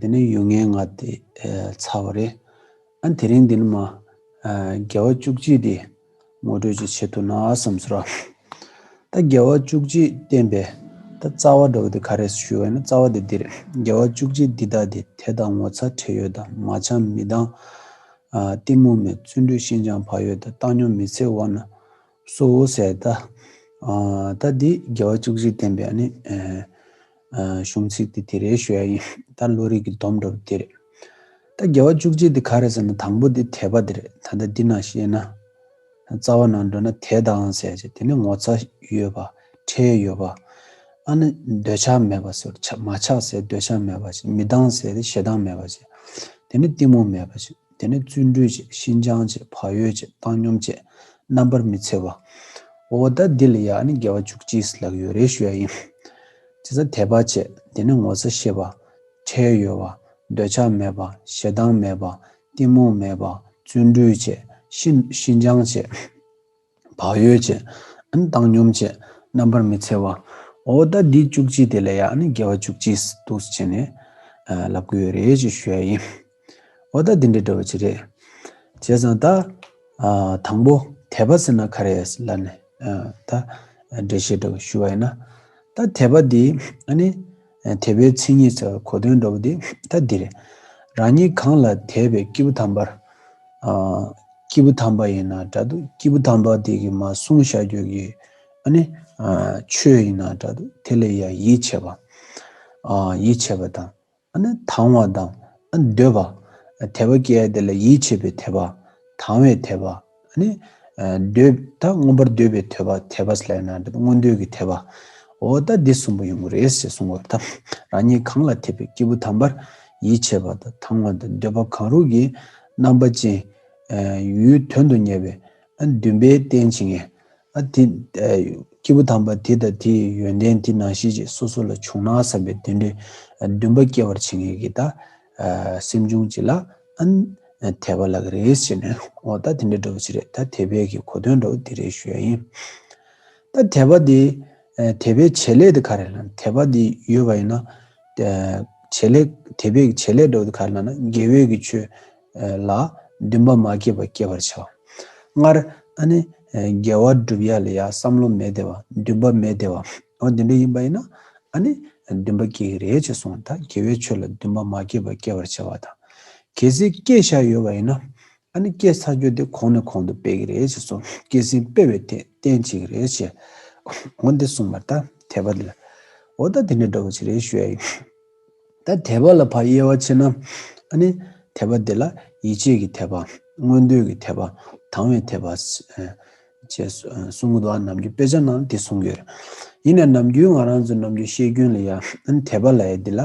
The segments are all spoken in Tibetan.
དེ་ནི་ཡུལ་ངན་ང་དེ་ཚ་བ་རེད་ཨ། དེ་རིང་འདི་ནི་མ། རྒྱལ་བ་བཅུ་གཅིག་འདི། ངོ་སྤྲོད་ཅིག་བྱེད་ཐུབ་ན་བསམ་ཚོད་ར། ད་རྒྱལ་བ་བཅུ་གཅིག་བསྟན་པའི། ད་རྩ་བ་འགྲོ་བ་འདི་ག་རེད་ཞུས་བ་ཡིན་ན་རྩ་བ་འདི་འདི་རེད་རྒྱལ་བ་བཅུ་གཅིག་འདི་དག་འདི་དེ་དང་ངོ་ཚ་ཁྲེལ་ཡོད་ད་མ་ཆང་མི་དང། གཏི་མུག་མེད་བརྩོན་འགྲུས་ཤིན་སྦྱངས་བག་ཡོད་ད་བཏང་སྙོམས་མི་ཚེ་བར་ན། གསོལ་བོ་གསལ། ད་ལྟ་འདི་དགེ་བ་བཅུ་གཅིག་བསྟན་པའི་གཞུང་ཚིག་དེ་དེ་རེའི་ཞོལ་ཡིན། ད་བློ་རིག་གི་སྡོམ་འགྲོ་བ་འདི་རེད། ད་དགེ་བ་བཅུ་གཅིག་འདི་ག་རེད་ཟེར་ན་དང་པོ་འདི་དད་པ་འདི་རེད་ད་ལྟ་འདི་ན་ཤེས་ན། རྩ་བ་ནང་འགྲོ་ན་དད་དང་ཟས་བཅད་དེ་ནི་ངོ་ཚ་ཡོད་པ་ཁྲེལ་ཡོད་པ། ཨ་ནི་འདོད་ཆགས་མེད་པ་ཟེར་རོ་མ་ཆགས་ཟས་འདོད་ཆགས་མེད་པ་ཟེར་མི་སྡང་ཟས་དེ་ཞེ་སྡང་མེད་པ་ཟེར་དེ་ནི་གཏི་མུག་མེད་པ་ཟེར། དེ་ནི་བརྩོན་འགྲུས་བཅས་ཤིན་སྦྱངས་བཅས་བག་ཡོད་བཅས་བཏང་སྙོམས་བཅས་རྣམ་པར་མི་འཚེ་བ། འོ་ད་འདི་ལ་ཡང་ནི་དགེ་བ་བཅུ་གཅིག་ལགས་ཡོད་རེ་ཞུ་ཡ་ཡིན། ཇི་ཙམ་དད་པ་བཅས་དེ་ནི་ངོ་ཚ་ཤེས་པ། ཁྲེལ་ཡོད་བ། འདོད་ཆགས་མེད་པ། ཞེ་སྡང་མེད་པ། གཏི་མུག་མེད་པ། བརྩོན་འགྲུས་བཅས་ཤིན་སྦྱངས་བཅས། བག་ཡོད་བཅས། བཏང་སྙོམས་བཅས། རྣམ་པར་མི་འཚེ་བ། འོ་ད་འདི་བཅུ་གཅིག་དེ་ལས་ཡག་ནི་རྒྱལ་བ་བཅུ་གཅིག་སྡུག་བྱས་ནས། ལབ་དགོས་ཡོད་རེད་ཅེས་ཞུ་ཡ་ཡིན། འོ་ད་འདི་འདྲ་འདྲ་བ་ཅི་རེད། བྱས་ཙང་ད། དང་པོ། དད་པ་ཟེར་ན་ག་རེ་ཨེ་ལ་ནི། ད། འགྲེལ་བཤད་འདྲ་བ་ཞུ་བ་ཡིན་ན། ད་དད་པ་འདི། དད་པའི་མཚན་ཉིད་ཚ་གོ་དོན་འགྲོ་བ་དེ་ལྟ་འདིར། རང་ཉིད་གང་ལ་དད་པའི་སྐྱེས་བུ་དམ་པར། སྐྱེས་བུ་དམ་པ་ཡིན་ན་འདྲ་དུ་སྐྱེས་བུ་དམ་པ་དེ་གི་མ་གསུང་བཤགས་རྒྱུད་ཀྱི། ནི། ཆོས་ཡིན་ན་འདྲ་དུ་དེ་ལ་ཡང་ཡིད་ཆེས་པ། ཡིད་ཆེས་པ་དང། ནི་དང་བ་དང། འདོད་པ། དད་པ་སྐྱེ་བ་དེ་ལ་ཡིད་ཆེས་པའི་དད་པ། དང་བའི་དད་པ། ནི། འདོད། ད་མངོན་པར་འདོད་པའི་ཐོས་པ་ཐེག་པ་སླད་ན་འདི་མངོན་འདོད་ཀྱི་ཐེག་པའོ། ད་འདི་གསུམ་པོ་ཡོང་གི་རེད་ཞེས་གསུངས་པ་དང། རང་ཉིད་གང་ལ་ཐེག་པའི་སྐྱེས་བུ་དམ་པར་ཡིད་ཆེས་པ་དང་དང་བ་དང་འདོད་པ་གང་རུང་གི་རྣམ་པ་ཅན། ཡུལ་དོན་དུ་གཉེར་བའི་འདུན་པའི་རྟེན་བྱེད་ངེས། དེ། སྐྱེས་བུ་དམ་པ་དེ་དང་དེའི་ཡོན་ཏན་དེ་ནང་ཤེས་བྱེད་སོ་སོ་ལ་བྱུང་ན་བསམ་པའི་འདུན་པའི་འདུན་པ་སྐྱེ་བར་བྱེད་ངེས་ཀྱི། ད། སེམས་བྱུང་གཅིག་ལ་དད་པ་ལགས་ཀྱི་རེད་ཟེར་ནས་ཨོ་ད་དེ་འདྲའི་འགྲོ་བ་ཅི་རེད་ད་དད་པའི་གི་གོ་དོན་འགྲོ་བ་འདི་རེད་ཞུ་ཡ་ཡིན། ད་དད་པ་དེ་དད་པའི་བྱེད་ལས་དེ་ག་རེད་ལ་དད་པ་དེ་ཡོད་པ་ཡིན་ན་བྱེད་ལས་དད་པའི་གི་བྱེད་ལས་འགྲོ་བ་དེ་ག་རེད་ལ་ན་དགེ་བས་ཀྱི་ཆོས་ལ་འདུན་པ་མ་སྐྱེས་པ་སྐྱེད་པར་བྱ་བ། སྔར་ཨ་ནི། རྒྱལ་བ་བསྒྲུབ་ཡ་ལ་ཡ་བསམ་བློ་མེད་དེ་བ་འདུན་པ་མེད་དེ་བ། འོ་དེ་འདྲ་ཡིན་པ་ཡིན་ན་ཨ་ནི་འདུན་པ་སྐྱེ་གི་རེད་ཅེས་གསུངས་ད་དགེ་བའི་ཆོས་ལ་འདུན་པ་མ་སྐྱེས་པ་སྐྱེ་བར་བྱ་བ་དང། གལ་སྲིད་སྐྱེས་བཞག་ཡོད་པ་ཡིན་ན་ཨ་ནི་སྐྱེས་ཚར་རྒྱུ་དེ་གོང་ནས་གོང་དུ་སྤེལ་གི་རེད་ཅེས་སོ་སྐྱེས་ཟིན་སྤེལ་བའི་ཐད་བསྟན་བྱེད་ཀྱི་རེད་ཅེས་འོ་འདི་གསུངས་པར་ད་དད་པ་འདི་ལ་འོ་ད་དེ་འདྲ་འགྲོ་བ་ཅི་རེད་ཞུས་ཨ་ཡིན། ད་དད་པ་ལ་བར་དབྱེ་བ་ཕྱེ་ན། ནི། དད་པ་དེ་ལ་ཡིད་ཆེས་ཀྱི་དད་པ། མངོན་འདོད་ཀྱི་དད་པ། དང་བའི་དད་པ། ཅེས་གསུངས། གདོད་ནམ་རྒྱུན་དཔེ་ཆ་རྣམས་ལ་དེ་གསུངས་ཡོད། ཡིན་ནས་ནམ་རྒྱུན་ང་རང་ཚོའི་ནམ་རྒྱུན་བཤད་རྒྱུན་ལ་ཡང། དད་པ་ལ་ཡ་འདི་ལ།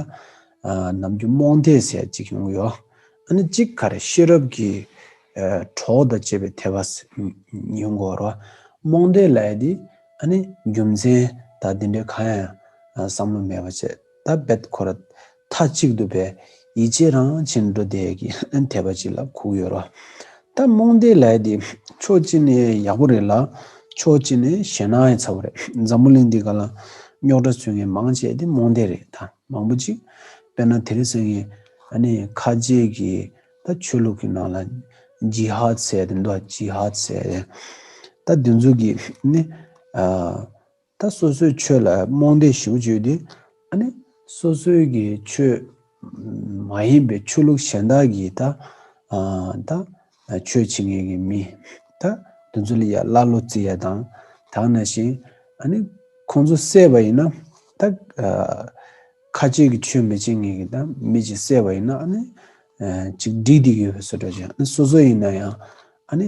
ནམ་རྒྱུན་རྨོངས་དད་ཟེར་བ་ཅིག་ཡོང་གི་ཡོད། ནི། གཅིག་ག་རེ་ཤེས་རབ་ཀྱི། གྲོགས་དང་བཅས་པའི་དད་པ། ཉིད་མགོ་རོ། རྨོངས་དད་ལ་ཡ་འདི། ནི། རྒྱུ་མཚན། དག་འདི་འདྲའི་གང་ཡང། བསམ་བློ་མེད་པ་བྱེད། ཐ་བད་ཁོ་ར། ཐ་གཅིག་ཏུ་བས། ཡིད་ཆེས་རང་བྱིན་འགྲོ་དད་ཀྱིས་དད་པ་གཅིག་ལ་ཁུག་ཡོད་རོ། ད་རྨོངས་དད་ལའི་དེ། ཕྱོགས་གཅིག་ནས་ཡག་པོ་རེད་ལ། ཕྱོགས་གཅིག་ནས་ཞེ་ན་ཡི་ཚ་བོ་རེད། འཛམ་བུ་གླིང་འདི་ག་ལ། རྙོག་དྲ་ཚུལ་ངན་མང་བྱས་དེ་རྨོངས་དད་རེད་ད་མང་པོ་གཅིག། དཔེར་ན་དེ་རི་ཟེར་ངན། ཨ་ནི་ཁ་ལྗད་ཀྱིས་ད་ཆོས་ལུགས་ཀྱི་ནང་ལ། ཇི་ཧ་ཚད་དེ་འདུག་ཇི་ཧ་ཚད། ད་དེ་ཚོ་གིས་ནི། ད་སོ་སོའི་ཆོས་ལ་རྨོངས་དད་ཞུགས་བརྗོད་དེ། ཨ་ནི། སོ་སོའི་གི་ཆོས་མ་ཡིན་པའི་ཆོས་ལུགས་གཞན་དག་གིས་ད། ད། ཆོས་བྱེད་ངེས་ཀྱི་མི། ད། དེ་ཚོ་ལ་ཡ་ཀླ་ཀློ་རྩི་ཡ་དང། དག་ན་ཞིང། ཨ་ནི། ཁོང་ཚོ་བསད་པ་ཡིན་ན། ད། ཁ་ཆེ་གི་ཆོས་མི་བྱེད་ངེས་ཀྱི་ད་མི་ཅིག་བསད་པ་ཡིན་ན་ཨ་ནི། ཅིག་འགྲིག་འདི་གི་བསོད་དྲ་ཅན་ཨ་ནི་སོ་སོ་ཡིན་ན་ཡང། ཨ་ནི།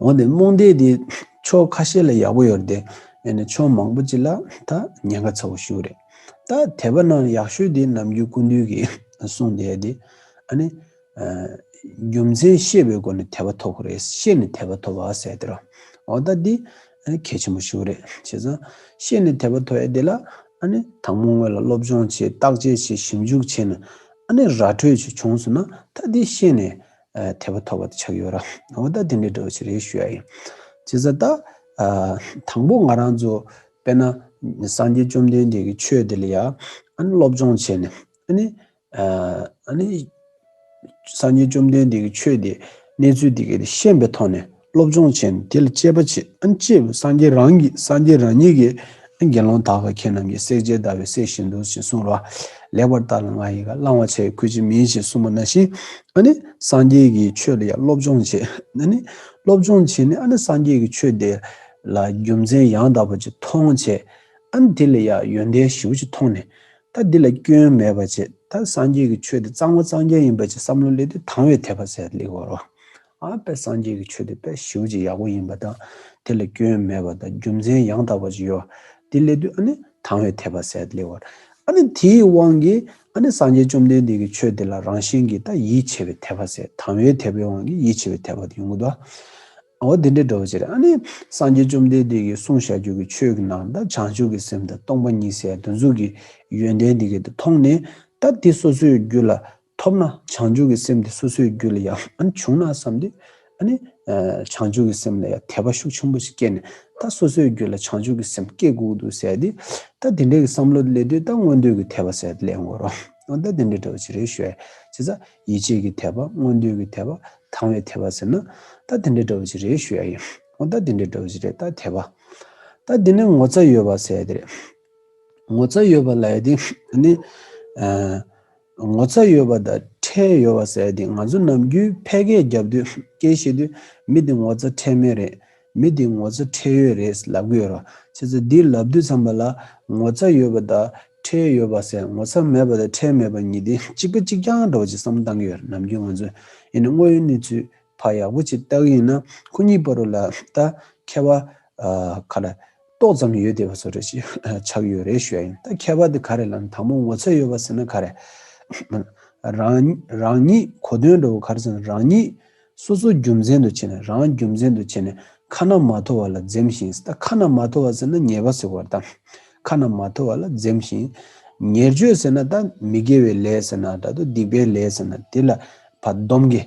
འོན་ཏེ་རྨོངས་དད་དེ་ཕྱོགས་ཁ་ཤས་ལ་ཡག་པོ་ཡོད་རེད་དེ། ཡང་ན་ཕྱོགས་མང་པོ་ཅིག་ལ་ད་ཉེན་ཁ་ཚ་བོ་ཞུགས་རེད། ད་དད་པ་རྣམས་ཡག་ཤོས་དེ་ནམ་རྒྱུན་ཀུན་འདུས་ཀྱིས་གསུངས་དེ་ཡོད་དེ། ཨ་ནི། རྒྱུ་མཚན་ཤེས་པའི་སྒོ་ནས་དད་པ་ཐོབ་ཁོ་རེད་ཤེས་ནས་དད་པ་ཐོབ་བ་ཟེར་དེ་རོ། འོ་ད་འདི། གལ་ཆེན་པོ་ཞུགས་རེད་བྱས་ཙང། ཤེས་ནས་དད་པ་ཐོབ་ཡ་དེ་ལ། ཨ་ནི། དང་པོ་དངོས་ལ་སློབ་སྦྱོང་བྱེད་བརྟག་དཔྱད་བྱེད་ཞིབ་འཇུག་བྱས་ནས། ཨ་ནི་ར་འཕྲོད་བྱེད་བྱུང་སོང་ན་ད་འདི་ཤེས་ནས། ཐེག་པ་ཐོབ་པ་དེ་ཆགས་ཡོད་ར། འོ་ད་དེ་འདྲའི་འདྲི་བ་ཅི་རེད་ཞུ་ཡ་ཡིན། ཇི་ཙ་ད། དང་པོ་ང་རང་ཚོ་དཔེར་ན་སངས་རྒྱས་བཅོམ་ལྡན་འདས་ཀྱི་ཆོས་དེ་ལ་ཡ་ཨ་ནི་སློབ་སྦྱོང་བྱས་ནས་ཨ་ནི། ཨ་ནི། སངས་རྒྱས་བཅོམ་ལྡན་འདས་ཀྱི་ཆོས་དེ་གནས་ཚུལ་དེ་གའི་ཤེས་པའི་ཐོག་ནས་སློབ་སྦྱོང་བྱས་ནས་དེ་ལ་སྤྱད་པ་བྱས་སྤྱད་པས་སངས་རྒྱས་རང་གི་སངས་རྒྱས་རང་ཉིད་ཀྱིས་དགེ་སློང་དག་ག་ཁྱེད་རྣམས་ཀྱིས་སྲེག་བྱེད་ཟླ་བའི་སྲེག་བཞིན་དུ་ཞེས་གསུངས་ལ། ལེགས་པར་བརྟགས་ལ་ང་ཡི་ག་བླང་བར་བྱའི་གོས་ཅི་མིན་ཞེས་གསུངས་པ་ན་བཞིན་ཨ་ནི་སངས་རྒྱས་ཀྱི་ཆོས་ལ་ཡང་སློབ་སྦྱོང་བྱས་ཨ་ནི་སློབ་སྦྱོང་བྱས་ནས་ཨ་ནི་སངས་རྒྱས་ཀྱི་ཆོས་དེ་ལ་རྒྱུ་མཚན་ཡང་དག་པར་ཅིག་མཐོང་བྱས་ཨ་ནི་དེ་ལ་ཡང་ཡོན་ཏན་བཞི་བོ་ཅིག་མཐོང་ནས་ད་འདི་ལ་སྐྱོན་མེད་པར་བྱས་ད་སངས་རྒྱས་ཀྱི་ཆོས་དེ་གཙང་བ་གཙང་རྐྱང་ཡིན་པར་ཅིག་བསམ་ལོ་ལེགས་ཏེ་དང་བའི་དད་པ་ཟད་ལེགས་པར་རོ། དཔལ་སངས་རྒྱས་ཀྱི་ཆོས་དེ་དཔལ་ཞི་བ་ཅི་ཡག་པོ་ཡིན་པ་དང། དེ་ལ་སྐྱོན་མེད་པ་དང་རྒྱུ་མཚན་ཡང་དག་པ་ཅི་ཡོད། དེ་སླད་དུ་ཨ་ནི་དང་བའི་དད་པ་ཟད་དེ་ལེགས་བར། ཨ་ནི་དེའི་དབང་གིས་ཨ་ནི་སངས་རྒྱས་བཅོམ་ལྡན་འདས་ཀྱི་ཆོས་དེ་ལ་རང་བཞིན་གྱིས་ད་ཡིད་ཆེས་པའི་དད་པ་ཟད་དང་བའི་དད་པའི་དབང་གིས་ཡིད་ཆེས་པའི་དད་པ་དེ་ཡོང་གི་འདུག་ཨ། འོ་དེ་འདྲའི་འགྲོ་བ་ཅི་རེད་ཨ་ནི་སངས་རྒྱས་བཅོམ་ལྡན་འདས་ཀྱིས་གསུངས་བྱ་རྒྱུད་ཀྱི་ཆོས་ཀྱི་ནང་ད་བྱང་ཆུབ་ཀྱི་སེམས་དང་སྟོང་པ་ཉིད་ཟད་དུ་འཛུགས་ཀྱི་ཡོན་ཏན་དེ་གས་དེ་མཐོང་ནས་ད་དེ་སོ་སོའི་རྒྱུད་ལ་ཐོབ་ན་བྱང་ཆུབ་ཀྱི་སེམས་དེ་སོ་སོའི་རྒྱུད་ལ་ཡང་འབྱུང་ན་བསམས་ཏེ། བྱང་ཆུབ་ཀྱི་སེམས་ལ་ཡང་དད་པ་ཤུགས་ཆེན་པོ་ཞིག་སྐྱེས་ནས་ད་སོ་སོའི་རྒྱུད་ལ་བྱང་ཆུབ་ཀྱི་སེམས་སྐྱེ་དགོས་འདུག་ཟེར་ཏེ། ད་དེ་འདྲའི་བསམ་བློ་སླེབས་དུས་ད་མངོན་འདོད་ཀྱི་དད་པ་ཟེར་ཏེ་སླེབས་དགོས་རོགས། ད་དེ་འདྲའི་དྲ་བ་ཇི་རེད་ཤོད། བྱས་ཙང་ཡིད་ཆེས་ཀྱི་དད་པ་མངོན་འདོད་ཀྱི་དད་པ་དང་བའི་དད་པ་ཟེར་ན། ད་དེ་འདྲའི་དྲ་བ་ཇི་རེད་ཤོད། ད་དེ་འདྲའི་དྲ་བ་ཇི་རེད་ད་དད་པ། ད་དེ་ནས་ངོ་ཚ་ཡོད་པ་ཟེར་ཏེ། ངོ་ཚ་ཡོད་པ་ལ་ཡང་དེ། ངོ་ཚ་ཡོད་པ་དང་ཁྲེལ་ཡོད་པ་ཟེར་དེ་ང་ཚོ་ནམ་རྒྱུན་ཕལ་སྐད་རྒྱབ་དུས་སྐད་ཤེས་དུས་མི་དེ་ངོ་ཚ་ཁྲེལ་མེད་རེད་མི་དེ་ངོ་ཚ་ཁྲེལ་ཡོད་རེད་ལབ་གི་ཡོད་རོ་ཁྱེད་ཚོ་འདི་ལབ་དུས་ཚང་མ་ལ་ངོ་ཚ་ཡོད་པ་དང་ཁྲེལ་ཡོད་པ་ཟེར་ངོ་ཚ་མེད་པ་དང་ཁྲེལ་མེད་པ་གཉིས་དེ་གཅིག་པ་གཅིག་རྐྱང་འདྲ་བ་ཅིག་བསམ་བཏང་གི་ཡོད་རེད་ནམ་རྒྱུན་ང་ཚོས་ཡིན་ནི་དངོས་ཡོད་གནས་ཚུལ་བ་ཡག་པོ་ཅིག་བཏགས་ཡིན་ན་ཁོ་གཉིས་པ་རུ་ལ་ད་ཁ་བ་ག་ལ་ཏོག་ཙམ་ཡོད་དེ་བ་ཚོ་རེད་ཅིག་ཆགས་ཡོད་རེད་ཞུ་ཡ་ཡིན་ད་ཁ་བ་དེ་ག་རེད་ལམ་དང་པོ་ངོ་ཚོད་ཡོད་པ་ཟེར་ན་ག་རེད། རང་ཉིད་གོ་སྟོན་འགྲོ་བ་ག་རེ་ཟེར་རང་ཉིད་སོ་སོ་རྒྱུ་མཚན་དུ་བྱས་ནས་རང་རྒྱུ་མཚན་དུ་བྱས་ནས་ཁ་ན་མ་ཐོ་བ་ལ་འཛེམ་ཞིང་ད་ཁ་ན་མ་ཐོ་བ་ཟེར་ན་ཉེས་པ་ཟེར་བར་ད་ཁ་ན་མ་ཐོ་བ་ལ་འཛེམ་ཞིང་ཉེར་སྤྱོད་ཟེར་ན་ད་མི་དགེ་བའི་ལས་ཟེར་ན་ད་དུ་སྡིག་པའི་ལས་ཟེར་ན་དེ་ལ་བ་སྡོམ་དགེ།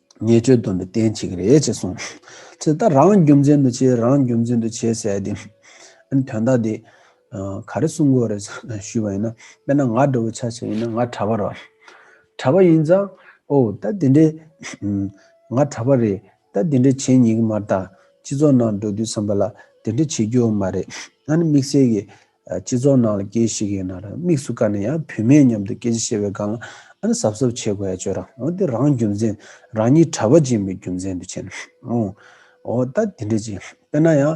ཉེས་སྤྱོད་སྡོམ་པའི་རྟེན་བྱེད་ཀྱི་རེད་ཅེས་གསུངས། ཚེ་ད་རང་རྒྱུ་མཚན་དུ་བྱས་རང་རྒྱུ་མཚན་དུ་བྱས་ཟེར་དེ། ཨན་དོན་དག་དེ། ག་རེ་གསུང་དགོས་རེད་ཞུས་པ་ཡིན་ན། དཔེར་ན་ང་འདྲ་བོ་ཆ་ཤས་ཡིན་ན་ང་གྲྭ་པ་རོ། གྲྭ་པ་ཡིན་ཙང། ཨོ་ད་དེ་འདྲའི། ང་གྲྭ་པ་རེད་ད་དེ་འདྲའི་བྱེད་ཉེས་ཀྱི་མ་རྟགས་སྤྱི་ཚོགས་ནང་འགྲོ་དུས་བསམ་པ་ལ་དེ་འདྲའི་བྱེད་རྒྱུ་མ་རེད། ཨན་དམིགས་བསལ་གྱི། སྤྱི་ཚོགས་ནང་ལ་སྐྱེས་ཤིག་ཡོད་ན་རང་དམིགས་སུ་བཀར་ནས་ཡང་བུད་མེད་མཉམ་དུ་སྐད་ཆ་བཤད་པའི་སྒང་ལ་ཨ་ནི་ཟབ་ཟབ་བྱེད་དགོས་ཡ་བྱོས་རང་འོ་དེ་རང་རྒྱུ་མཚན་རང་ཉིད་གྲྭ་པ་སྦྱིན་པའི་རྒྱུ་མཚན་དུ་བྱེད་ཨོ་འོ་ད་དེ་འདྲ་ཅིག་དཔེར་ན་ཡང་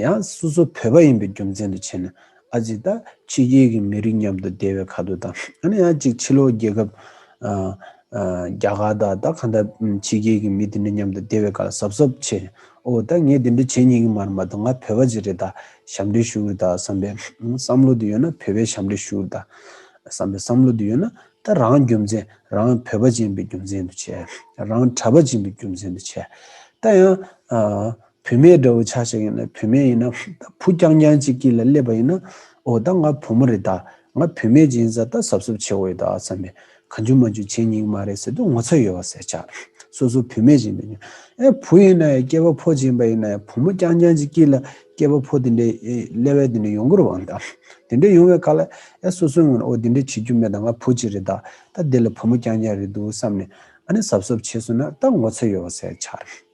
ཡང་སོ་སོ་བོད་པ་ཡིན་པའི་རྒྱུ་མཚན་དུ་བྱེད་ན་ཨ་ཅིག་ད་ཕྱི་རྒྱལ་གྱི་མི་རིགས་མཉམ་དུ་སྡེ་བའི་ཁ་དོག་དང་ཨ་ནི་ཡང་ཅིག་ཕྱི་ལོག་རྒྱལ་ཁབ་ཨ་རྒྱ་གར་དང་ད་ག་འདྲ་ཕྱི་རྒྱལ་གྱི་མི་དེ་འདྲ་མཉམ་དུ་སྡེ་བའི་ཁར་གཟབ་གཟབ་བྱེད་ཨོ་ད་ངས་དེ་འདྲ་བྱེད་ཉེ་གི་མ་རེད་མ་ད་ང་བོད་པ་ཅིག་རེད་ད་ཞབས་འདྲེན་ཞུ་གི་ད་བསམ་པའི་བསམ་བློ་དེ་ཡོད་ན་བོད་པའི་ཞབས་འདྲེན་ཞུ་ད་བསམ་པའི་བསམ་བློ་དེ་ཡོད་ན་ད་རང་རྒྱུ་མཚན་རང་བོད་པ་ཅན་པའི་རྒྱུ་མཚན་དུ་བྱས་རང་གྲྭ་པ་ཅན་པའི་རྒྱུ་མཚན་དུ་བྱས་ད་ཡང་བུད་མེད་འདྲ་བོ་ཆགས་ཤིག་ཡིན་ན་བུད་མེད་ཡིན་ན་ད་བུ་རྐྱང་རྐྱང་ཅིག་གི་ལ་སླེབས་པ་ཡིན་ན་འོ་ད་ང་བུ་མོ་རེད་ད་ང་བུད་མེད་ཅིག་ཡིན་ས་ད་ཟབ་ཟབ་བྱེད་འོ་ཡོད་ད་བསམ་པས་ག་འཇུ་མ་འཇུ་བྱེད་སྙིང་མ་རེད་ཟེར་དུས་ངོ་ཚ་ཡོད་བ་ཟེར་ཆགས་སོ་སོ་བུད་མེད་ཅིག་འདུག་སྙམ་ཨེ་བུ་ཡིན་ན་ཡང་སྐྱེས་པ་ཕོ་ཅིག་ཡིན་པ་ཡིན་ན་ཡང་བུ་མོ་རྐྱང་རྐྱང་ཅིག་གི་ལ་སྐྱེས་པ་ཕོ་དེ་འདྲའི་སླེ་བས་དེ་འདྲའི་ཡོང་གི་རུ་བའང་ད་དེ་འདྲའི་ཡོང་བའི་ག་ལ་ཨེ་སོ་སོའི་ངོ་ནས་འོ་དེ་འདྲའི་བྱེད་རྒྱུ་མེད་ད་ང་བུ་ཅིག་རེད་ད་ད་དེ་ལ་བུ་མོ་རྐྱང་རྐྱང་རེད་འདུག་བསམ་ནས་ཨ་ནི་ཟབ་ཟབ་བྱེད་སོང་ན་ད་ངོ་ཚ་ཡོད་བ་ཟེར་ཆགས་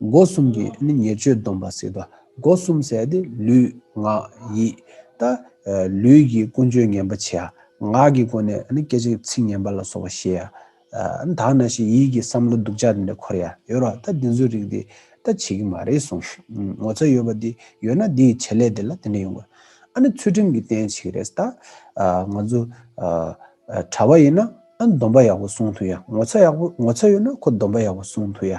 སྒོ་གསུམ་གྱི་ནི་ཉེར་སྤྱོད་སྡོམ་པ་སྲིད་དོ། སྒོ་གསུམ་ཟད་དེ་ལུས་ངག་ཡིད། ད་ལུས་ཀྱི་ཀུན་སྤྱོད་ངན་པ་བྱེད། ངག་གི་སྒོ་ནས་ནི་སྐད་ཅིག་ཚིག་ངན་པ་ལ་སོགས་པ་བཤད། དག་ན་ཞེས་ཡིད་ཀྱི་བསམ་བློ་སྡུག་ཅག་དེ་འདྲ་འཁོར་ཡ་ཡོད་རོ། ད་འདི་ཚོའི་རིགས་དེ་ད་བྱེད་ཀྱི་མ་རེད་གསུངས། ངོ་ཚ་ཡོད་པ་དེ་ཡོད་ན་དེ་ཡི་བྱེད་ལས་དེ་ལ་དེ་འདྲ་ཡོང་དགོས། ཨ་ནི་ཚུལ་ཁྲིམས་ཀྱི་རྟེན་བྱེད་ཀྱི་རེད། ད་ང་ཚོ་གྲྭ་བ་ཡིན་ན་སྡོམ་པ་ཡག་པོ་སྲུང་ཐུབ་ཡ། ངོ་ཚ་ཡག་པོ་ངོ་ཚ་ཡོད་ན་ཁོ་སྡོམ་པ་ཡག་པོ་སྲུང་ཐུབ་ཡ།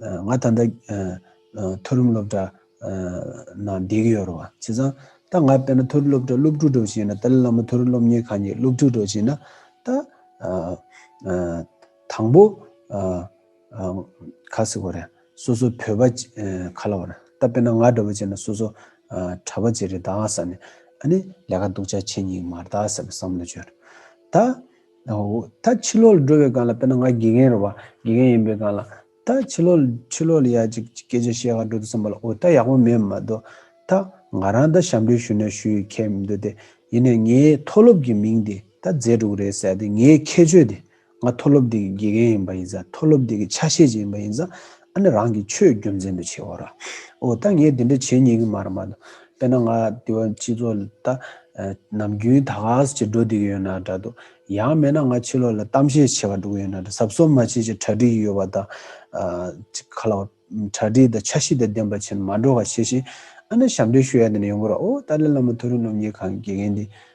ང་ད་ལྟ་མཐོ་རིམ་སློབ་གྲྭ་ནང་སྡད་ཀྱི་ཡོད་རེད་བ། བྱས་ཙང་ད་ང་དཔེར་ན་མཐོ་རིམ་སློབ་གྲྭ་སློབ་ཕྲུག་འགྲོ་བྱེད་ན་ཏཱ་ལའི་བླ་མ་མཐོ་རིམ་སློབ་གཉེར་ཁང་གི་སློབ་ཕྲུག་འགྲོ་བྱེད་ན་ད་དང་པོ་ཁ་སི་གོ་རེད་སོ་སོ་བོད་པ་ཁ་ལ་བ་རེད་ད་དཔེར་ན་ང་འགྲོ་བ་བྱེད་ན་སོ་སོ་གྲ་བ་ཅི་རེད་ད་ང་ས་ནས་ཨ་ནི་ལས་ཀ་འདུག་ཆ་ཆེ་ཉིག་མར་ད་ཟེར་བ་བསམ་བློ་བཅོལ། ད་ད་ཕྱི་ལོག་ལ་འགྲོ་བའི་སྒང་ལ་དཔེར་ན་ང་དགེ་རྒན་རེད་བ། དགེ་རྒན་ཡིན་པའི་སྒང་ལ། ད་ཕྱི་ལོག་ཕྱི་ལོག་ལ་ཡ་གཅིག་སྐད་ཆ་བཤད་ག་འགྲོ་འདུག་བསམ་པ་ལ་འོ་ད་ཡག་པོ་མེད་མ་གཏོགས། ད་ང་རང་ད་ཞབས་འདྲེན་ཞུ་ན་ཞུ་ཡི་ཁྱད་མི་འདུག་སྟེ། ཡིན་ནས་ངའི་མཐོ་སློབ་ཀྱི་མིང་དེ་ད་རྫས་དྲུག་རེད་ཟེར་ཏེ་ངའི་ཁྱད་ཆོས་དེ། ང་མཐོ་སློབ་དེ་གི་དགེ་རྒན་ཡིན་པ་ཡིན་ཙང་མཐོ་སློབ་དེ་གི་ཆ་ཤས་ཅིག་ཡིན་པ་ཡིན་ཙང། ཨ་ནི་རང་གི་ཆོས་རྒྱུ་མཚན་དུ་བྱེད་འོ། འོ་ད་ངས་འདི་འདྲ་བྱེད་ཉན་གི་མ་རེད་མ་གཏོགས། དཔེར་ན་ང་དེ་བས་སྤྱི་ཚོགས་ལ་ལྟ། ནམ་རྒྱུན་ད་ག་ཟེར་གྱི་འགྲོ་བསྡད་ཀྱི་ཡོད་ན་འདྲ་འདུག་ཡང་མེད་ན་ང་ཕྱི་ལོགས་ལ་གཏམ་བཤད་བྱེད་པར་འགྲོ་གི་ཡོད་ན་འདྲ་ཟབ་གསོ་མ་བྱེད་ཅེས་གྲ་སྒྲིག་གི་ཡོད་པ་དང། ག་ལ་བ། གྲ་སྒྲིག་དང་འཆར་གཞི་དང་ལྡན་པ་བྱེད་ན་མ་འགྲོ་ག་བྱེད་བཞིན་ཨ་ནི་ཞབས་འདྲེན་ཞུ་ཡ་དེ་ནས་ཡོང་གི་རོགས་འོ་ཏཱ་ལའི་བླ་མ་མཐོ་རིས་སློབ་གཉེར་ཁང་གི་དགེ་རྒན་དེ།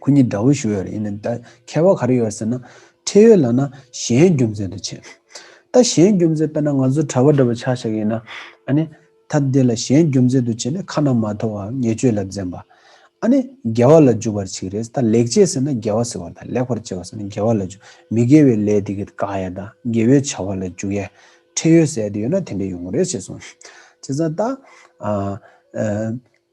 ཁོ་གཉིས་དགྲ་བོ་ཞུ་ཡོད་རེད་ཡིན་ན་ད་ཁྱད་པར་ག་རེ་ཡོད་ཟེར་ན། ཁྲེལ་ཡོད་ལགས་ན་གཞན་རྒྱུ་མཚན་དུ་བྱེད། ད་གཞན་རྒྱུ་མཚན་དཔེར་ན་ང་ཚོ་གྲྭ་བ་འདྲ་བོ་ཆགས་ཤག་ཡིན་ན། ཨ་ནི། ད་འདི་ལ་གཞན་རྒྱུ་མཚན་དུ་བྱེད་ནས་ཁ་ན་མ་ཐོ་བ་ཉེས་སྤྱོད་ལ་འཛེམ་པ། ཨ་ནི། དགེ་བ་ལ་འཇུག་པར་བྱེད་རེད་ད་ལེགས་སྤྱད་ཟེར་ན་དགེ་བ་ཟེར་བ་དང་ལེགས་པར་སྤྱད་བ་ཟེར་ན་དགེ་བ་ལ་འཇུག་མི་དགེ་བའི་ལས་དེ་གི་དགག་ཡ་དང་དགེ་བའི་བྱ་བ་ལ་འཇུག་ཡ། ཁྲེལ་ཡོད་ཟེར་ཡ་དེ་ཡོད་ན་དེ་འདྲ་ཡོང་གི་རེད་ཅེས་གསུངས། བྱས་ཙང་ད།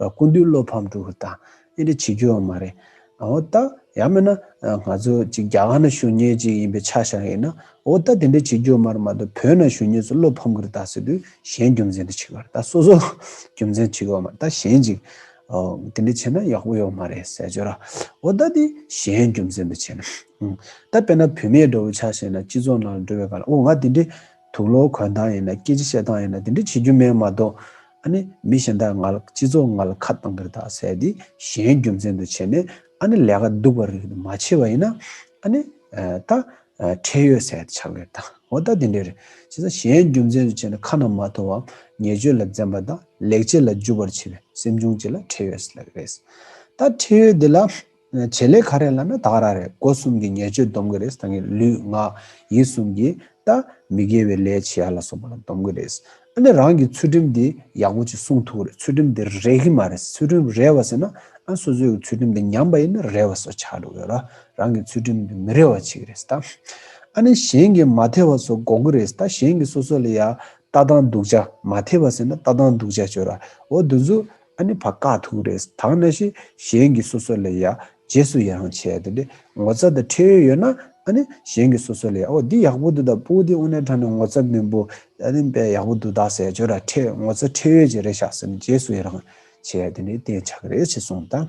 སྐུ་འདུས་བློ་ཕམ་གྲུབ་པ་དང་གཉེན་འབྲེལ་བྱེད་རྒྱུའང་མ་རེད། འོ་ད། ཡང་མིན་ན། ང་ཚོ་ཅིག་རྒྱ་གར་ན་ཞུ་ཉེ་ཅིག་ཡིན་པའི་ཆ་བཞག་ཡིན་ན། འོ་ད་དེ་འདྲ་བྱེད་རྒྱུ་མ་རེད་མ་གཏོགས་བོད་ན་ཞུ་ཉེ་ཚོ་བློ་ཕམ་གི་རེད་ད་ཟེར་དུས་གཞན་རྒྱུ་མཚན་དུ་བྱེད་གི་རེད་ད་སོ་སོ་རྒྱུ་མཚན་བྱེད་གི་ཡོད་མ་རེད་ད་གཞན་ཅིག་དེ་འདྲ་བྱེད་ན་ཡག་པོ་ཡོད་མ་རེད་ཟེར་ཆོས་ར། འོ་ད་དེ་གཞན་རྒྱུ་མཚན་དུ་བྱེད་ན། ད་དཔེར་ན་བུད་མེད་འགྲོ་བའི་ཆ་བཤད་ན་སྤྱི་ཚོགས་ནང་འགྲོ་བའི་སྐར་ལ་འོ་ང་དེ་འདྲའི། དུག་ལོག་གོན་སྟངས་ཡིན་ན་སྐད་ཅིག་བཤད་སྟངས་ཡིན་ན་དེ་འདྲ་བྱེད་རྒྱུ་མེད་མ་གཏོགས། ཨ་ནི་མི་གཞན་དག་ང་ལ་སྤྱི་ཚོགས་ང་ལ་ཁ་བཏང་གིར་དག་ཟེར་ཏེ་གཞན་རྒྱུ་མཚན་དུ་བྱས་ནས་ཨ་ནི་ལས་ཀ་སྡུག་པ་རིགས་དེ་མ་བྱས་པ་ཡིན་ན། ཨ་ནི། ད། ཁྲེལ་ཡོད་ཟེར་ཏེ་ཆགས་གིར་དང་འོ་ད་དེ་འདྲས་རེད་བྱས་ཙང་གཞན་རྒྱུ་མཚན་དུ་བྱས་ནས་ཁ་ན་མ་ཐོ་བའམ་ཉེས་སྤྱོད་ལ་འཛེམ་པ་དང་ལེགས་སྐྱེས་ལ་འཇུ་བར་བྱེད་པའི་སེམས་བྱུང་བཅས་ལ་ཁྲེལ་ཡོད་ཟེར་ལ་གི་རེད། ད་ཁྲེལ་ཡོད་དེ་ལ། བྱེད་ལས་ག་རེ་ལ་ན་དག་ར་རེད་སྒོ་གསུམ་གྱི་ཉེར་སྤྱོད་འདོམས་གི་རེད་ད་ངས་ལུས་ངག་ཡིད་གསུམ་གྱི་ད་མི་དགེ་བའི་ལས་བྱེད་ཡ་ལ་སོགས་པ་ལ་འདོམས་གི་རེད་ཨ་ནི་རང་གི་ཚུལ་ཁྲིམས་དེ་ཡག་པོ་ཅིག་བསྲུང་ཐུབ་གི་རེད་ཚུལ་ཁྲིམས་དེ་རེག་གི་མ་རེད་ཚུལ་ཁྲིམས་རེ་བ་ཟེར་ན་ཨ་སོ་སོའི་གི་ཚུལ་ཁྲིམས་དེ་ཉམས་པ་ཡིན་ན་རེ་བ་སོགས་ཆགས་འགྲོ་གི་ཡོད་ར་རང་གི་ཚུལ་ཁྲིམས་དེ་མི་རེ་བ་བྱེད་གི་རེད་ད་ཨ་ནི་གཞན་གྱི་མ་ཐེ་བ་སོགས་དགོག་གི་རེད་ད་གཞན་གྱི་སོ་སོ་ལ་ཡ་ལྟ་སྟངས་སྡུག་ཅག་མ་ཐེ་བ་ཟེར་ན་ལྟ་སྟངས་སྡུག་ཅག་བྱོས་ར་འོ་དུས་ཚོད་ཨ་ནི་བ་ཀ་ཐུག་རེད་ད་ང་ཤི་གཞན་གི་སོ་སོ་ལས་ཡག་རྗེས་སུ་ཡི་རང་བྱས་དེ་འདྲས་ངོ་ཚ་དང་ཁྲེལ་ཡོད་ཡོད་ན་ཨ་ནི་གཞན་གི་སོ་སོ་ལས་ཡག་ཨོ་འདི་ཡག་པོ་འདུག་ད་པོ་འདི་ཨོ་ནེ་ཁྲ་ནི་ངོ་ཚ་མིན་པོ་ཨ་ནི་བས་ཡག་པོ་འདུག་ད་ཟས་སྦྱོར་ར་ཁྲེལ་ངོ་ཚ་ཁྲེལ་ཡོད་ཅིག་རེད་ཤག་སེམས་རྗེས་སུ་ཡི་རང་བྱས་དེ་འདྲས་བསྟན་བྱ་གི་རེད་ཅེས་གསུངས་དང།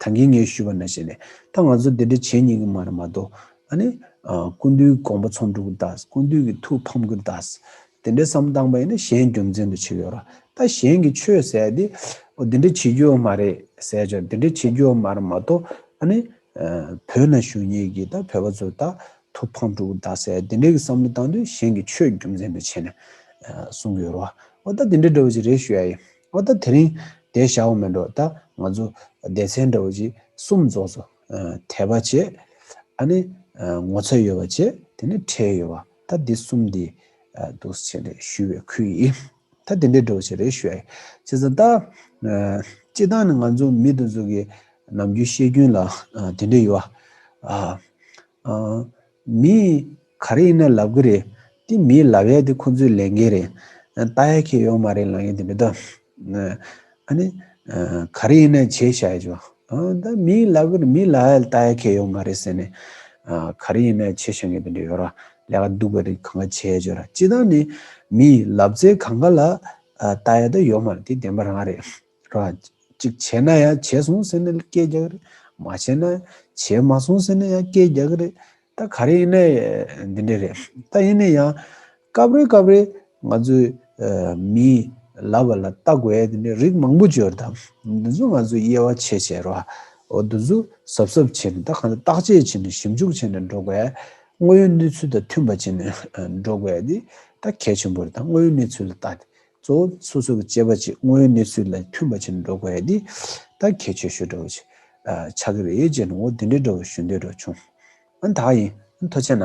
ད་གིན་ངས་ཞུས་པ་ན་བྱས་ནས་ད་ང་ཚོ་དེ་འདྲ་བྱེད་ཉིན་གི་མ་རེད་མ་གཏོགས་ཨ་ནི། ཀུན་འདུས་དགོངས་པ་ཚོང་འགྲུག་གི་རྡ་ས་ཀུན་འདུས་ཀྱི་ཐུགས་ཕམ་གི་རྡ་ས་དེ་འདྲ་བསམ་སྟངས་པ་ཡིན་ན་གཞན་རྒྱུ་མཚན་དུ་བྱེད་ཡོད་ར་ད་གཞན་གྱི་ཆོས་ཟས་དེ་འོ་དེ་འདྲ་བྱེད་རྒྱུ་ཡོད་མ་རེད་ཟས་ཅོག་དེ་འདྲ་བྱེད་རྒྱུ་ཡོད་མ་རེད་མ་གཏོགས་ཨ་ནི། བོད་ན་ཞུ་ཉིན་གྱི་ད་བོད་པ་ཚོ་ད་ཐུགས་ཕམ་འགྲུག་གི་རྡ་ས་དེ་འདྲ་གྱི་བསམ་བློ་བཏང་དུས་གཞན་གྱི་ཆོས་རྒྱུ་མཚན་དུ་བྱས་ནས་གསུང་གི་ཡོད་ར་ཨོ་ད་དེ་འདྲ་འདྲ་བོ་ཅིག་རེད་ཞུ་ཡ་ཡིན། ཨོ་ད་དེ་རིང་དེ་བྱ་བ་མིན་འགྲོ་ད་ང་ཚོ་སྡེ་ཚན་འདྲ་བོ་ཅིག་གསུམ་རྫོགས་སོ། དད་པ་བྱེད། ཨ་ནི་ངོ་ཚ་ཡོད་པ་བྱེད་དེ་ནི་ཁྲེལ་ཡོད་པ་ད་འདི་གསུམ་འདི་འདུག་བྱས་རེད་ཞུས་བའི་ཁུལ་ཡིན། ད་དེ་འདྲ་འདྲ་བོ་ཅིག་རེད་ཞུ་ཡ་ཡིན། བྱས་ཙང་ད། སྤྱི་བཏང་ནི་ང་ཚོ་མི་དེ་ཚོ་གི་ནམ་རྒྱུན་བཤད་རྒྱུན་ལ་དེ་འདྲ་ཡོད། མི། ག་རེ་ཡིན་ན་ལབ་གི་རེད། དེ་མིའི་ལབ་ཡ་དེ་ཁོ་ཚོའི་ལས་འགན་རེད། ལྟ་ཡ་ཁྱེད་ཡོང་མ་རེད་ལང་ཡ་དེ་མི་ལྟ། ཨ་ནི། ག་རེ་ཡིན་ན་བྱས་བྱ་ཡ་ཆོག། ད་མིའི་ལབ་གི་རེད་མིའི་ལབ་ཡ་ལྟ་ཡ་ཁྱེད་ཡོང་མ་རེད་ཟེར་ནས། ག་རེ་ཡིན་ན་བྱས་བྱ་ངེས་དོན་དུ་ཡོད་ར། ལས་ཀ་སྡུག་པ་རེད་གང་ག་བྱས་ཡ་ཆོག་ར། སྤྱི་བཏང་ནི། མིའི་ལབ་ཙེ་གང་ག་ལ། ལྟ་ཡ་ད་ཡོང་མ་རེད་དེ་བདེན་པ་རང་རེད། རང། གཅིག་བྱས་ན་ཡང་བྱས་སོང་ཟེར་ནས་སྐད་རྒྱག་གི་རེད། མ་བྱས་ན། བྱས་མ་སོང་ཟེར་ནས་ཡང་སྐད་རྒྱག་གི་རེད། ད་ག་རེ་ཡིན་ན་འདི་འདྲ་རེད། ད་ཡིན་ན་ཡང། སྐབས་རེ་སྐབས་རེ། ང་ཚོའི། མིའི། ལབ་པ་ལ་ལྟ་དགོས་ཡས་དེ་འདྲའི་རིགས་མང་པོ་འབྱོར་ད། འདི་ཚོ་ང་ཚོས་དབྱེ་བ་ཕྱེ་ཕྱེ་རོགས། འོ་འདི་ཚོ་གཟབ་གཟབ་བྱེད་ནས་ད་གང་ལྟར་བརྟག་དཔྱད་བྱེད་ནས་ཞིབ་འཇུག་བྱེད་ནས་འགྲོ་དགོས། དངོས་ཡོད་གནས་ཚུལ་དང་མཐུན་པ་བྱེད་ནས་འགྲོ་དགོས་དེ་ད་གལ་ཆེན་པོ་རེད་ད་དངོས་ཡོད་གནས་ཚུལ་ལ་བལྟ་དེ། གཙོ་བོ་སོ་སོ་གི་སྤྱད་པ་ཅིག་དངོས་ཡོད་གནས་ཚུལ་ལ་མཐུན་པ་བྱེད་ནས་འགྲོ་དགོས་ཡ་འདི་ད་ཁྱད་ཆོས་ཞུ་འདྲ་བོ། ཆགས་ཀྱི་རེད་ཡོད་ཅེས་ནོ་འོ་དེ་འདྲའི་འདྲ་བོ་ཞུ་འདོད་འགྲོ་བྱུང། ཨང་དག་ཡིན་ཨང་མཐོ་ཆེ་ན།